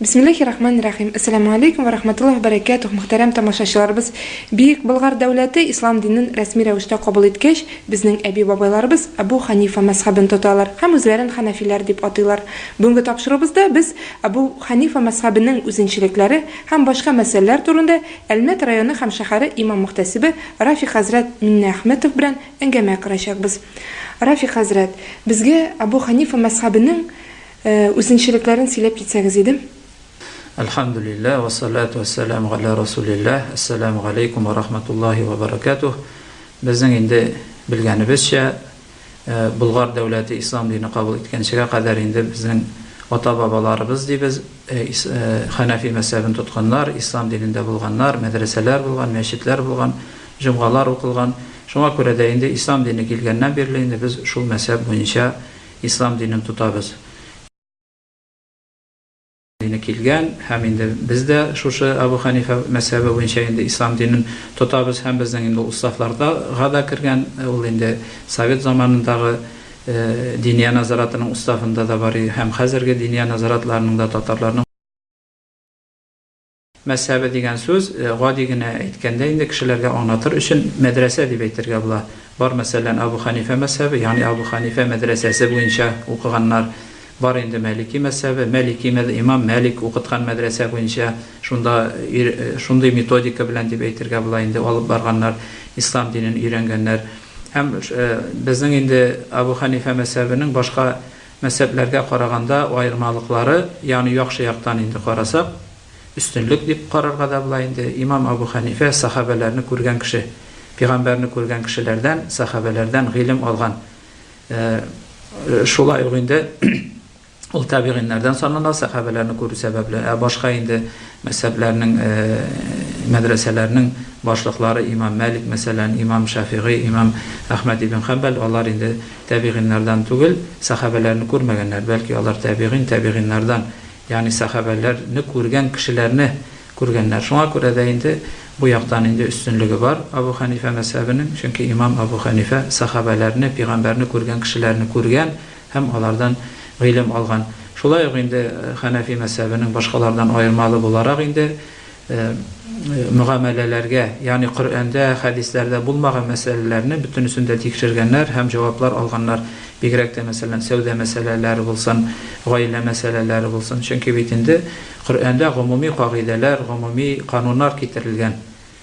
Бисмиллахи рахман рахим. Ассаламу алейкум ва рахматуллах баракатух. Мөхтәрәм тамашачыларыбыз, Бөек Болгар дәүләте ислам динен рәсми рәвештә кабул иткәч, безнең әби-бабайларыбыз Абу Ханифа мәсхәбен тоталар һәм үзләрен ханәфиләр дип атыйлар. Бүгенге тапшыруыбызда без Абу Ханифа мәсхәбенең үзенчелекләре һәм башка мәсьәләләр турында Әлмәт районы һәм шәһәре имам-мөхтәсибе Рафик хәзрәт Миннәхмәтов белән Әңгәмә корачакбыз. Рафик хәзрәт, безгә Абу Ханифа мәзхәбенең үзенчелекләрен сөйләп китсәгез иде. Әлхәмдүлилләһ, вә салату вә сәлам галә Расулилләһ, Әссәләмү галәйкүм вә рахматуллаһи вә бәрәкәтүһ. Безнең инде белгәнебезчә, Болгар дәүләте ислам дине кабул иткәнчегә кадәр инде безнең ата-бабаларыбыз дибез, Хәнәфи мәзһәбен тотканнар, ислам динендә булганнар, мәдрәсәләр булган, мәчетләр булган, җомгалар укылган. Шуңа күрә дә инде ислам дине килгәннән бирле инде без шул мәзһәб буенча ислам динен тотабыз. Дине килгән һәм инде без дә шушы Әбү Хәнифә мәзһәбе буенча инде ислам динен тотабыз һәм безнең инде ул уставларга да кергән, ул инде совет заманындагы. Диния назаратының уставында да бар иде һәм хәзерге диния назаратларының да татарларның. Мәзһәбе дигән сүз, гади генә әйткәндә инде, кешеләргә аңлатыр өчен, мәдрәсә дип әйтергә була. Бар, мәсәлән, Абу Хәнифә мәзһәбе, ягъни Абу Хәнифә мәдрәсәсе буенча укыганнар. Бар инде Мәлики мәзһәбе, Мәлики мәз, имам Мәлик укыткан мәдрәсә буенча шунда өйр, шундый методика белән дип әйтергә була инде, алып барганнар, ислам динен өйрәнгәннәр. Һәм безнең инде Абу Хәнифә мәзһәбенең башка мәзһәбләргә караганда аермалыклары, ягъни яхшы яктан инде карасак, өстенлек дип карарга да була инде, имам Абу Хәнифә сәхабәләрне күргән кеше, пигамбәрне күргән кешеләрдән, сәхабәләрдән гыйлем алган. Ә шулай ук инде ул табигыйннәрдән санала, сәхабәләрне күрү сәбәпле. Ә башка инде мәзһәбләрнең, мәдрәсәләрнең башлыклары, имам Мәлик, мәсәлән, имам Шәфигый, имам Әхмәд ибн Хәнбәл, алар инде табигыйннардан түгел, сәхабәләрне күрмәгәннәр, бәлки алар табигыйн, табигыйннардан, ягъни сәхабәләрне күргән кешеләрне күргәннәр. Шуңа күрә дә инде бу яктан инде өстенлеге бар Абу Хәнифә мәзһәбенең, чөнки имам Абу Хәнифә сәхабәләрне, пигамбәрне күргән кешеләрне күргән һәм алардан гыйлем алган. Шулай ук инде Хәнәфи мәзһәбенең башкалардан аермалы буларак инде мөгамәләләргә, ягъни Коръәндә, хәдисләрдә булмаган мәсьәләләрне бөтенесен дә тикшергәннәр һәм җаваплар алганнар, бигрәк тә мәсәлән сәүдә мәсьәләләре булсын, гаилә мәсьәләләре булсын, чөнки бит инде Коръәндә гомуми кагыйдәләр, гомуми кануннар китерелгән.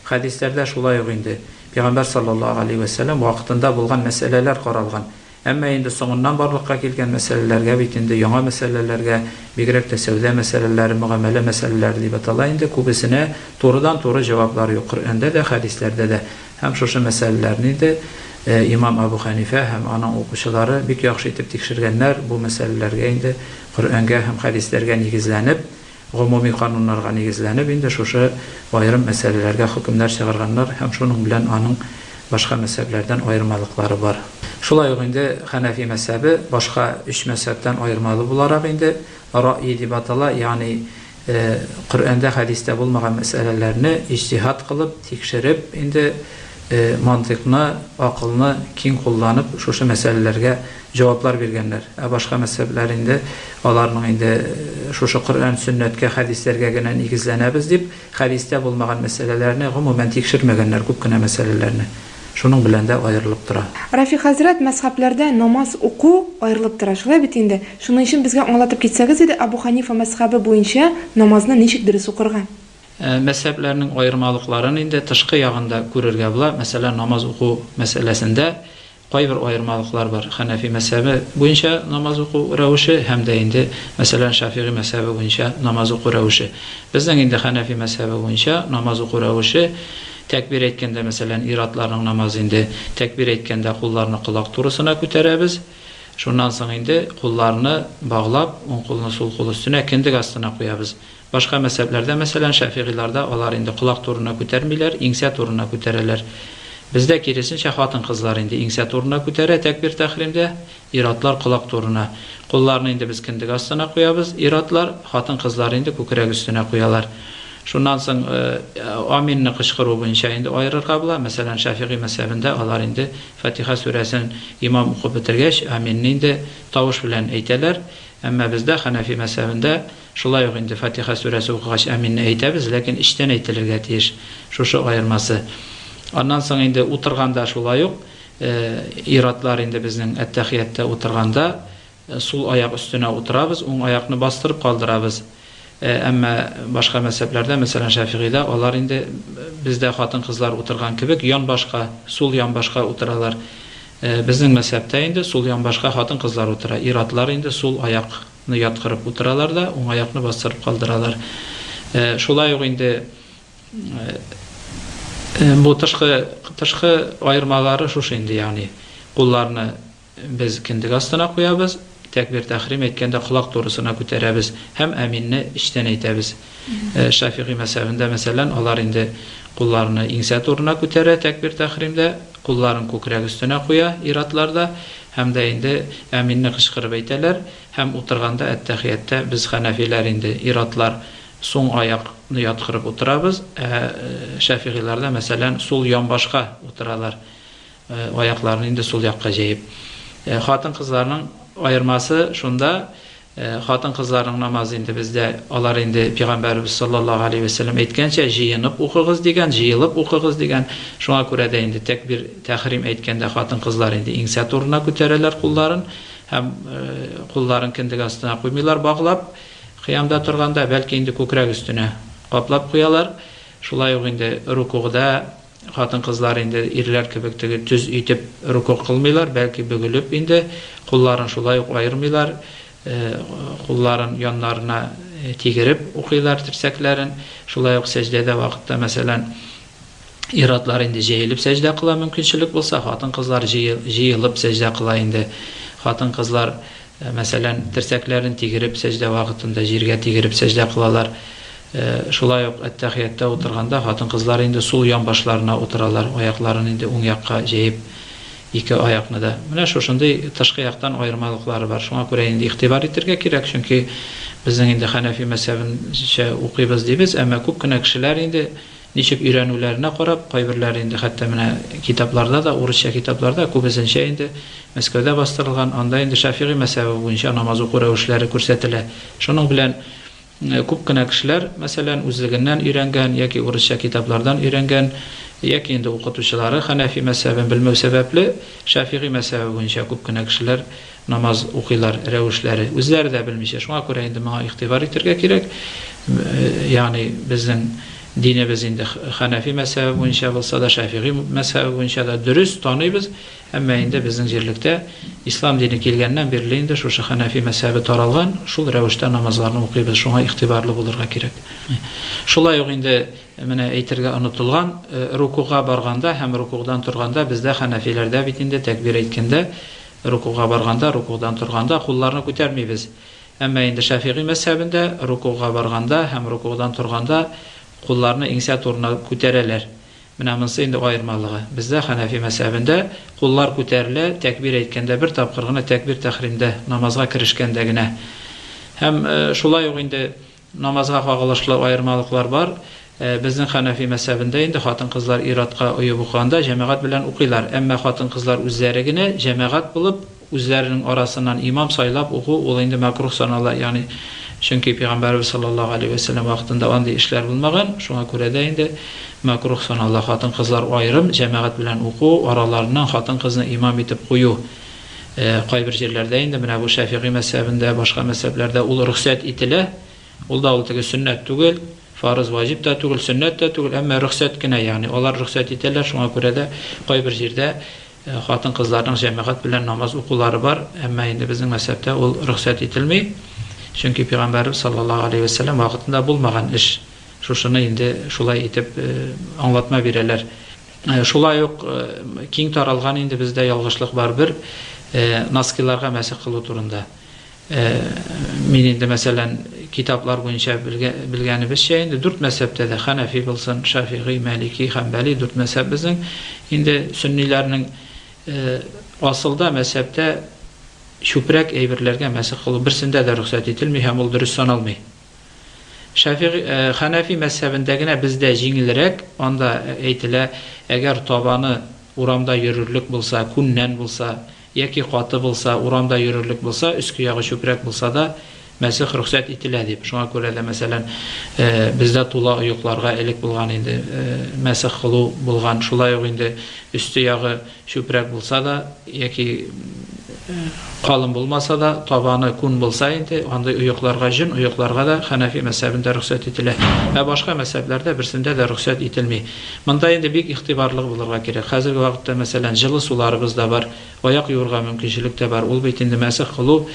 Хәдисләрдә шулай ук инде Пәйгамбәр саллаллаһу галәйһи вә сәлләм вакытында булган мәсьәләләр каралган. Әмма инде соңыннан барлыкка килгән мәсьәләләргә бит инде яңа мәсьәләләргә, бигрәк тә сәүдә мәсьәләләре, мөгамәлә мәсьәләләре дип атала инде, күбесенә турыдан-туры җаваплар юк Коръәндә дә, хәдисләрдә дә. Һәм шушы мәсьәләләрне инде имам Әбү Хәнифә һәм аның укучылары бик яхшы итеп тикшергәннәр, бу мәсьәләләргә инде Коръәнгә һәм хәдисләргә нигезләнеп, гомуми кануннарга нигезләнеп инде шушы аерым мәсьәләләргә хөкемнәр чыгарганнар һәм шуның белән аның башка мәзһәбләрдән аермалыклары бар. Шулай ук инде хәнәфи мәзһәбе башка өч мәзһәбтән аермалы буларак инде раъи дип атала, ягъни Ә Коръәндә, хәдистә булмаган мәсьәләләрне иҗтиһат кылып, тикшереп, инде мантыйкны, акылны киң кулланып, шушы мәсьәләләргә җаваплар биргәннәр. Ә башка мәзһәбләр инде, аларның инде шушы Коръән, Сөннәткә, хәдисләргә генә нигезләнәбез дип, хәдистә булмаган мәсьәләләрне гомумән тикшермәгәннәр, күп кенә мәсьәләләрне. Шуның белән дә аерылып тора. Рафи хәзрәт, мәзхәбләрдә намаз уку аерылып тора, шулай бит инде? Шуның өчен безгә аңлатып китсәгез иде, Абу Ханифа мәзхәбе буенча намазны ничек дөрес укырга? Мәзхәбләрнең аермалыкларын инде тышкы ягын да күрергә була. Мәсәлән, намаз уку мәсьәләсендә кайбер аермалыклар бар. Хәнәфи мәзхәбе буенча намаз уку рәвеше һәм дә инде, мәсәлән, Шәфигый мәзхәбе буенча намаз уку рәвеше. Безнең инде Хәнәфи мәзхәбе буенча намаз уку рәвеше, Тәкбир әйткәндә, мәсәлән, ир-атларның намазы инде, тәкбир әйткәндә кулларны колак турысына күтәрәбез, шуннан соң инде кулларны баглап, уң кулны сул кул өстенә, кендек астына куябыз. Башка мәзһәбләрдә, мәсәлән, шәфигыйларда алар инде колак турына күтәрмиләр, иңсә турына күтәрәләр. Бездә, киресенчә, хатын-кызлар инде иңсә турына күтәрә тәкбир-тәхримдә. Ир-атлар колак турына. Кулларны инде без кендек астына куябыз, ир-атлар, хатын-кызлар инде күкрәк өстенә куялар. Шуннан соң Аминне кычкыру буенча инде аерырга була. Мәсәлән, Шәфигый мәзһәбендә алар инде Фатиха сүрәсен имам укып бетергәч, Аминне инде тавыш белән әйтәләр. Әмма бездә, Хәнәфи мәзһәбендә, шулай ук инде Фатиха сүрәсе укыгач Аминне әйтәбез, ләкин эчтән әйтелергә тиеш. Шушы аермасы. Аннан соң инде утырганда шулай ук. Ир-атлар инде безнең әттәхияттә утырганда сул аяк өстенә утырабыз, уң аякны бастырып калдырабыз. Әмма башка мәзһәбләрдә, мәсәлән, Шәфигыйдә, алар инде бездә хатын-кызлар утырган кебек янбашка, сул янбашка утыралар. Безнең мәзһәбтә инде сул янбашка хатын-кызлар утыра. Ир-атлар инде сул аякны яткырып утыралар да, уң аякны бастырып калдыралар. Шулай ук инде Бу тышкы тышкы аермалары шушы инде, ягъни кулларны без кендек астына куябыз, тәкбир-тәхрим әйткәндә колак турысына күтәрәбез һәм әминне эчтән әйтәбез. Шафигый мәзһәбендә, мәсәлән, алар инде кулларны иңсә турына күтәрә тәкбир-тәхримдә, кулларын күкрәк өстенә куя ир-атлар да һәм дә инде әминне кычкырып әйтәләр һәм утырганда әттәхиятта без хәнәфиләр инде ир-атлар Сул аяк ны яткырып утырабыз, ә шәфигыйләрдә, мәсәлән, сул янбашка утыралар, аякларны инде сул якка җәеп. Хатын-кызларның аермасы шунда, хатын-кызларның намазы инде бездә, алар инде пигамбәребез саллаллаһу галәйһи вә сәлләм әйткәнчә, җыенып укыгыз дигән, җыелып укыгыз дигән. Шуңа күрә дә инде тәкбир, тәхрим әйткәндә хатын-кызлар инде иңсә турына күтәрәләр кулларын һәм кулларын кендек астына куймыйлар, баглап. Кыямда торганда, бәлки, инде күкрәк өстенә каплап куялар. Шулай ук инде рукугда хатын-кызлар инде ирләр кебек теге төз итеп руку кылмыйлар, бәлки бөгелеп инде, кулларын шулай ук аермыйлар, кулларын яннарына тигереп укыйлар, терсәкләрен. Шулай ук сәҗдәдә вакытта, мәсәлән. Ир-атлар инде җәелеп сәҗдә кыла, мөмкинчелек булса, хатын-кызлар җыелып сәҗдә кыла инде. Хатын-кызлар, мәсәлән, терсәкләрен тигереп сәҗдә вакытында җиргә тигереп сәҗдә кылалар. Шулай ук әттәхияттә утырганда хатын-кызлар инде сул ян башларына утыралар, аякларын инде уң якка җәеп, ике аякны да. Менә шушындый тышкы яктан аермалыклары бар. Шуңа күрә инде игътибар итергә кирәк, чөнки безнең инде хәнәфи мәзһәбенчә укыйбыз дибез, әмма күп кенә кешеләр инде Ничек өйрәнүләренә карап, кайберләре инде хәтта менә китапларда да, урысча китапларда, күбесенчә инде Мәскәүдә бастырылган, анда инде Шәфигый мәзһәбе буенча намаз уку рәвешләре күрсәтелә. Шуның белән күп кенә кешеләр, мәсәлән, үзлегеннән өйрәнгән яки урысча китаплардан өйрәнгән, яки инде укытучылары хәнәфи мәзһәбен белмәү сәбәпле, Шәфигый мәзһәбе буенча күп кенә кешеләр намаз укыйлар рәвешләре үзләре дә белмичә, шуңа күрә инде моңа игътибар итәргә кирәк, ягъни безнең динебез инде хәнәфи мәзһәбе буенча булса да, шәфигый мәзһәбе буенча да дөрес таныйбыз, әмма инде безнең җирлектә ислам дине килгәннән бирле инде шушы хәнәфи мәзһәбе таралган, шул рәвештә намазларны укыйбыз, шуңа игътибарлы булырга кирәк. Шулай ук инде менә әйтергә онытылган, рукуга барганда һәм рукугдан торганда бездә хәнәфиләрдә бит инде тәкбир әйткәндә Рукуга барганда, рукудан торганда кулларны күтәрмибез. Әмма инде Шәфигый мәзһәбендә рукуга барганда һәм рукудан торганда кулларны иңсә турына күтәрәләр. Менә монысы инде аермалыгы. Бездә, Хәнәфи мәзһәбендә, куллар күтәрелә, тәкбир әйткәндә бер тапкыр гына, тәкбир-тәхримдә, намазга керешкәндә генә. Һәм шулай ук инде. Намазга кагылышлы аермалыклар бар. Безнең хәнәфи мәзһәбендә инде хатын-кызлар ир-атка оеп укыганда җәмәгать белән укыйлар. Әмма хатын-кызлар үзләре генә, җәмәгать булып, үзләренең арасыннан имам сайлап уку, ул инде мәкруһ санала, ягъни чөнки Пәйгамбәребез саллаллаһу галәйһи вә сәлләм вакытында андый эшләр булмаган, шуңа күрә дә инде мәкруһ санала хатын-кызлар аерым, җәмәгать белән уку, араларыннан хатын-кызны имам итеп кую. Кайбер җирләрдә инде менә бу Шәфигый мәзһәбендә, башка мәзһәбләрдә ул рөхсәт ителә. Ул да ул теге сөннәт түгел, фарыз, ваҗиб та түгел, сөннәт тә түгел, әмма рөхсәт кенә, ягъни алар рөхсәт итәләр, шуңа күрә дә кайбер җирдә хатын-кызларның җәмәгать белән намаз укулары бар, әмма инде безнең мәзһәбтә ул рөхсәт ителми, чөнки пәйгамбәребез саллаллаһу алейһи вә сәлләм вакытында булмаган эш. Шушыны инде шулай итеп аңлатма бирәләр. Шулай ук киң таралган инде бездә ялгышлык бар бер, носкиларга мәсех кылу турында. Мин инде, мәсәлән, китаплар буенча белгәнебезчә инде, дүрт мәзһәбтә дә, хәнәфи булсын, шафигый, мәлики, хәнбәли, дүрт мәзһәб безнең, инде сөнниләрнең асылда мәзһәбтә чүпрәк әйберләргә мәсех кылу берсендә дә рөхсәт ителми һәм ул дөрес саналмый. Шәфигый, э, Хәнәфи мәзһәбендә генә бездә җиңелрәк, анда әйтелә, әгәр табаны урамда йөрерлек булса, күннән булса, яки каты булса, урамда йөрерлек булса, өске ягы чүпрәк булса да, мәсех рөхсәт ителә дип. Шуңа күрә дә, мәсәлән, э, бездә тула оекларга элек булган инде, э, мәсех кылу булган. Шулай ук инде өсте ягы Чүпрәк булса да яки калын булмаса да, табаны күн булса инде, андый оекларга, җен оекларга да Хәнәфи мәзһәбендә рөхсәт ителә. Ә башка мәзһәбләрдә берсендә дә рөхсәт ителми. Монда инде бик игътибарлы булырга кирәк. Хәзерге вакытта, мәсәлән, җылы суларыбыз да бар, аяк юырга мөмкинчелек тә бар. Ул бит инде мәсех кылу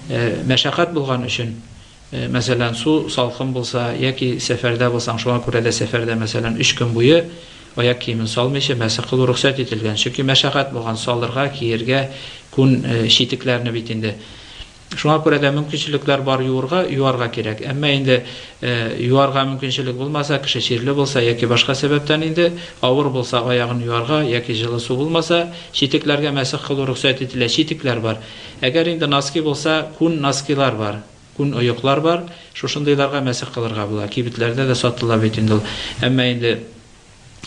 мәшәкать булган өчен. Мәсәлән, су салкын булса яки сәфәрдә булсаң, шуңа күрә дә сәфәрдә, мәсәлән, өч көн буе аяк киемен салмыйча мәсех кылу рөхсәт ителгән. Чөнки мәшәкать булган, салырга, киергә, күн читекләрне бит инде. Шуңа күрә дә мөмкинчелекләр бар юырга, юарга кирәк. Әмма инде юарга мөмкинчелек булмаса, кеше чирле булса яки башка сәбәптән инде авыр булса, аягын юарга яки җылы су булмаса, читекләргә мәсех кылу рөхсәт ителә. Читекләр бар. Әгәр инде носки булса, күн носкилар бар, күн оеклар бар, шушындыйларга мәсех кылырга була, кибетләрдә дә сатыла бит инде ул. Әмма инде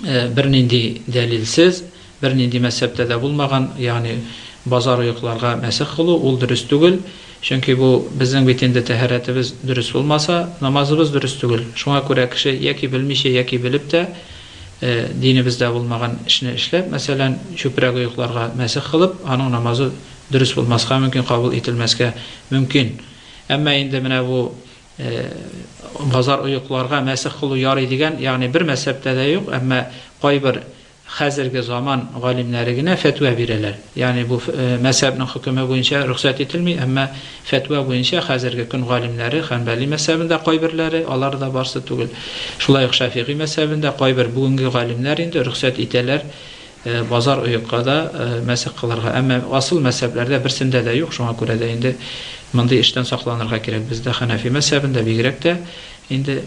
бернинди дәлилсез, бернинди мәзһәптә дә булмаган, ягъни базар оекларга мәсех кылу, ул дөрес түгел, чөнки бу безнең бит инде тәһарәтебез дөрес булмаса, намазыбыз дөрес түгел. Шуңа күрә кеше яки белмичә, яки белеп тә, динебездә булмаган эшне эшләп, мәсәлән, чүпрәк оекларга мәсех кылып, аның намазы дөрес булмаска мөмкин, кабул ителмәскә мөмкин. Әмма инде менә бу базар оекларга мәсех кылу ярый дигән, ягъни бер мәзһәбтә дә юк, әмма кайбер хәзерге заман галимнәре генә фәтва бирәләр. Ягъни бу мәзһәбнең хөкеме буенча рөхсәт ителми, әмма фәтва буенча хәзерге көн галимнәре Ханбәли мәзһәбендә кайберләре, алар да барсы түгел. Шулай ук Шафигый мәзһәбендә кайбер бүгенге галимнәр инде рөхсәт итәләр Базар оекка да, мәсех кылырга. Әмма асыл мәзһәбләрдә берсендә дә юк, шуңа күрә дә инде мондый эштән сакланырга кирәк. Бездә хәнәфи мәзһәбендә бигрәк тә инде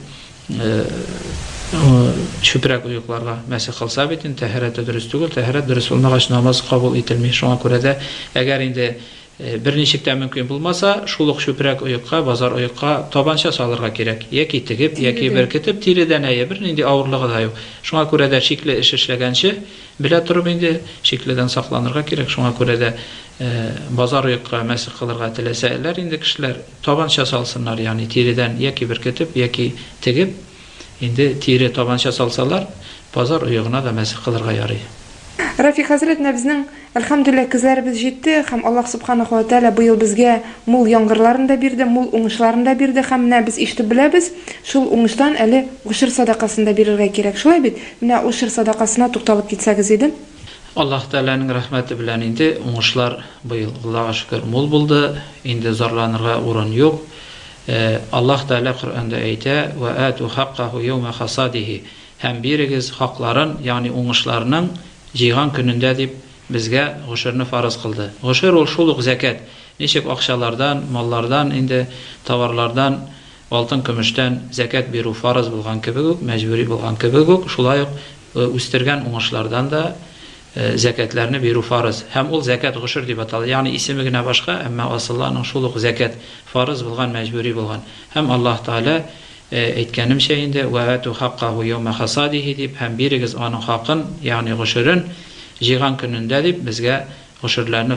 чүпрәк оекларга мәсех кылса бит инде тәһарәте дөрес түгел, тәһарәт дөрес булмагач намаз кабул ителми. Шуңа күрә дә әгәр инде Бер ничек тә мөмкин булмаса, шул ук чүпрәк оекка, базар оекка табанча салырга кирәк. Яки тегеп, яки беркетеп, тиредән, әйе, бернинди авырлыгы да юк. Шуңа күрә дә шикле эш эшләгәнче, белә торып инде, шикледән сакланырга кирәк. Шуңа күрә дә базар оекка мәсех кылырга теләсәләр инде кешеләр, табанча салсыннар, ягъни тиредән яки беркетеп, яки тегеп. Инде тире табанча салсалар, базар оегына да мәсех кылырга ярый. Рафи хәзрәт менә безнең, әлхәмдүлилләһ, көзләребез җитте һәм Аллаһ Субханаһу ва Тәгалә быел безгә мул яңгырларын да бирде, мул уңышларын да бирде һәм менә без ишетеп беләбез, шул уңыштан әле гошер садакасын да бирергә кирәк. Шулай бит? Менә гошер садакасына тукталып китсәгез иде. Аллаһ Тәгаләнең рәхмәте белән инде уңышлар быел, Аллага шөкер, мул булды, инде зарланырга урын юк. Ә Аллаһ Тәгалә Коръәндә әйтә, Вә әәтү хаккаһу йәүмә хасадихи, һәм бирегез хакларын, ягъни уңышларның җыйган көнендә дип безгә гошерне фарыз кылды. Гошер ул шул ук зәкят, ничек акчалардан, маллардан инде, товарлардан, алтын-көмештән зәкят бирү фарыз булган кебек үк, мәҗбүри булган кебек үк, шулай ук үстергән уңышлардан да Зәкятләрне бирү фарыз. Һәм ул зәкят гошер дип атала. Ягъни исеме генә башка, әмма асылы аның шул ук зәкят, фарыз булган, мәҗбүри булган. Һәм Аллаһ Тәгалә, әйткәнемчә инде, Вә ату хаккаһу йәүмә хасадихи дип, һәм бирегез аның хакын, ягъни гошерен, җыйган көнендә дип, безгә гошерләрне,